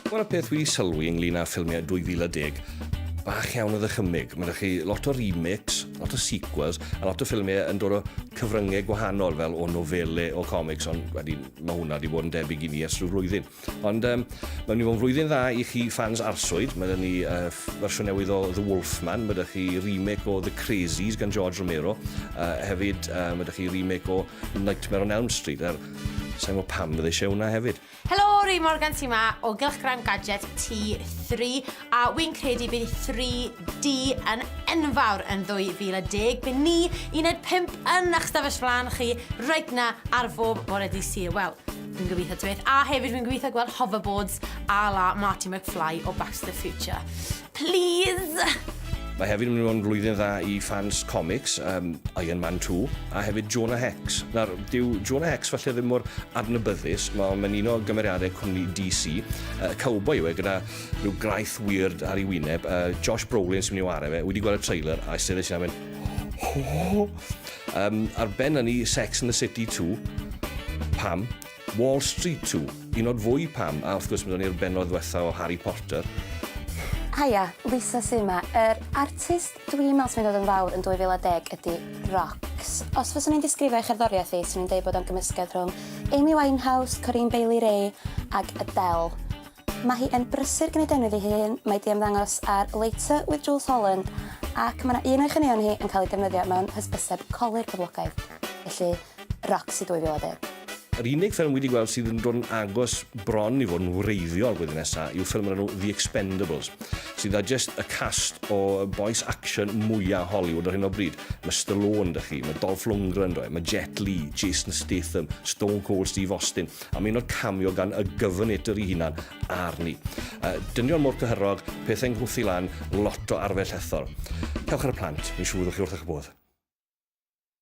Wel, y peth wedi sylwi ynglyn â ffilmiau 2010, bach iawn o ddychymyg. Mae'n rhaid chi lot o remakes, lot o sequels, a lot o ffilmiau yn dod o cyfryngau gwahanol, fel o nofele, o comics, ond wedi, mae hwnna wedi bod yn debyg i ni ers rhyw flwyddyn. Ond um, mae'n mynd i fod yn flwyddyn dda i chi fans arswyd. Mae dyn ni uh, fersiwn newydd o The Wolfman, mae dyn chi remake o The Crazies gan George Romero, uh, hefyd uh, mae dyn chi remake o Nightmare on Elm Street, er, sa'n gwybod pam fydde eisiau hwnna hefyd. Helo, Ray Morgan sy'n ma o Gylchgrawn Gadget T3 a wy'n credu bydd 3D yn enfawr yn 2010. Bydd ni uned 5 yn eich stafell flan chi reit na ar bob bore di Sul. Wel, fi'n gobeithio ti beth. A hefyd fi'n gobeithio gweld hoverboards a la Marty McFly o Back to the Future. Please! Mae hefyd yn mynd i fod yn flwyddyn dda i ffans comics, um, Iron Man 2, a hefyd Jonah Hex. Nawr, dyw Jonah Hex falle ddim mor adnabyddus, mae'n mynd un o gymeriadau cwmni DC. Uh, cowboy yw e, gyda rhyw graith weird ar ei wyneb. Uh, Josh Brolin sy'n mynd i wario fe, wedi gweld y trailer, a sefyll sy'n mynd... Um, ar ben hynny, Sex in the City 2. Pam? Wall Street Two, i nod fwy pam, a wrth gwrs byddwn ni'r bennod ddwetha o Harry Porter. Haia, Lisa su ma? Yr artist dwi'n me'wl sy'n mynd i fod yn fawr yn 2010 ydi Rocks. Os fyswn i'n disgrifio ei cherddoriaeth hi, swn i'n deud bod o'n gymysgedd rhwng Amy Winehouse, Corinne Bailey Rae ag Adele. Mae hi yn brysur gneud enw iddi hi hun, mae 'di ymddangos ar Later with Jools Holland ac mae 'na un o'i chaneuon hi yn cael ei defnyddio mewn hysbyseb colur poblogaidd, felly Roxy 2010. Yr unig ffilm wi 'di gweld sydd yn dod yn agos bron i fod yn wreiddiol blwyddyn nesa yw ffilm o'r enw The Expendables, sydd â jyst y cast o bois action mwya Hollywood ar hyn o bryd. Mae Stallone 'da chi, mae Dolph Lundgren 'do e, mae Jet Li, Jason Statham, Stone Cold Steve Austin. am un o'r camio gan y gyfynedr i hunan, arni. Uh, dynion mor cyhyrog, pethau nghwthi lan, lot o arfell ethol. Cewch ar y plant, fi'n siŵr fyddwch chi wrth eich bodd.